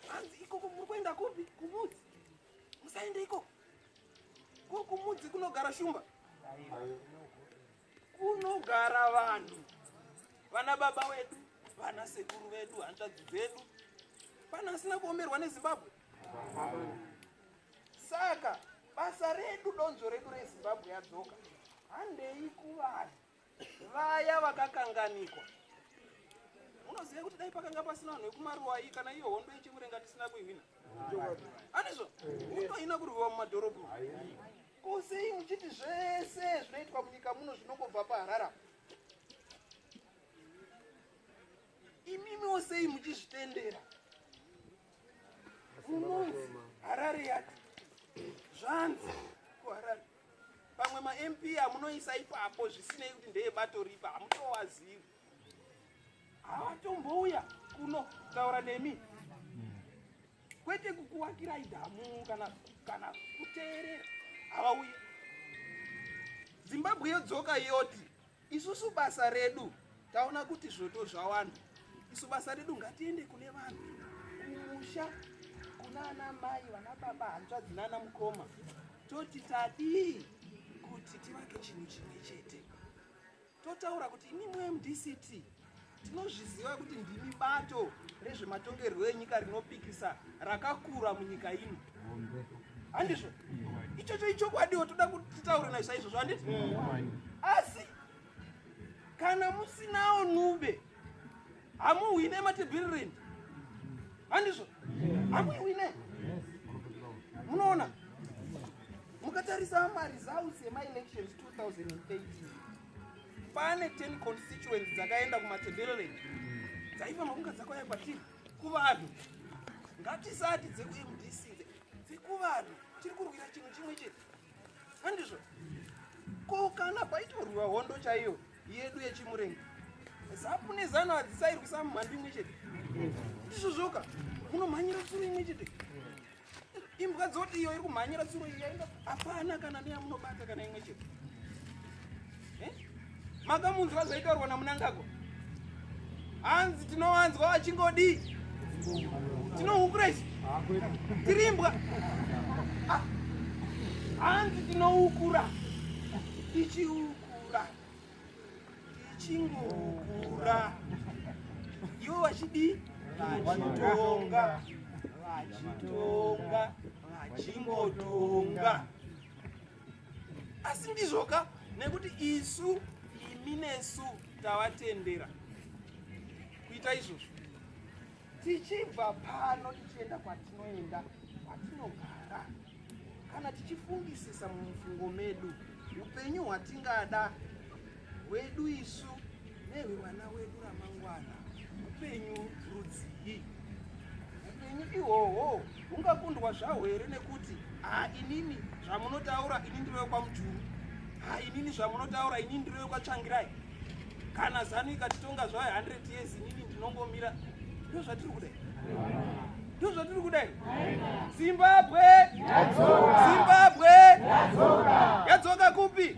Hanzi ikoko muri kuenda kupi? Kumudzi. Musaende ikoko. Ko kumudzi kunogara shumba. Kunogara vanhu. Vana baba wedu, vana sekuru vedu, hanzvadzi dzedu. Pana asina kuomerwa neZimbabwe. Saka basa redu donzvo redu reZimbabwe yadzoka. Handei kuvanhu. vaya vakakanganikwa unoziva kuti dai pakanga pasina vanhu vekumaruwai kana iyo hondo yechimurenga tisina kuihwina anizvo hondo haina kurwiwa mumadhorobho ko sei muchiti zvese zvinoitwa munyika muno zvinongobva paharara imimiwo sei muchizvitendera munonzi harare yati zvanzi kuharare pamwe mamp amunoisa ipapo zvisinei kuti ndeye bato ripa hamutowazivi havatombouya kuno kutaura nemi kwete kukuwakirai dhamu kana kana kuteerera havauye zimbabwe yodzoka yoti Isusu basa redu taona kuti zvoto zvawanda, isu basa redu ngatiende kune vanhu kumusha, kuna ana mai, vana baba, hanzvadzi nana mukoma, toti tadii kuti tivake chinhu chimwe chete, totaura kuti imimwe mdct Tinozviziva kuti ndimi bato rezvematongerwo enyika rinopikisa rakakura munyika ino. Handizvo? Ichocho ichokwadiwo toda kuti titaure nazvo saizvozvo handiti? Asi kana musinawo nube hamuhwine matibhirireni. Handizvo? Hamuhwine. Munoona? Mukatarisa maresults ema elections 2018 pane 10 constituents dzakaenda kumatendere dzaifanira kunge dzakauya kwatiri kuvanhu ngatisati dzekumdc dzekuvanhu tiri kurwira chinhu chimwe chete handizvo ko kana paitorwiwa hondo chaiyo yedu yechimurenga zapu nezano hadzisairwisa mumhandu imwe chete ndizvo zvoka munomhanyira suru imwe chete Imbwa dzoti iyo iri kumhanyira tsuro iyo yaenda hapana kana neyamunobata kana imwe chete. Eh? Makamunzwa zvaitaurwa naMunangagwa. Hanzi tinowanzwa vachingodi. Tinohukura isu. Tiri imbwa. Ah. Hanzi tinohukura. Tichiukura. ndichingokura ivo vachidii vachitonga vachitonga vachingotonga asi ndizvoka nekuti isu imi nesu tavatendera kuita izvozvo tichibva pano tichienda kwatinoenda kwatinogara kana tichifungisisa mumufungo medu upenyu hwatingada hwedu isu nehwevana wedu ramangwana upenyu rudzii upenyu ihwohwo ungakundwa zvaho here nekuti ha inini zvamunotaura ini ndiri wekwamujuru ha inini zvamunotaura ini ndiri wekwatsvangirai kana zanu ikatitonga zvayo 100 years inini ndinongomira ndo zvatiri kudai ndo zvatiri kudai zimbabwe zimbabwe yadzoka kupi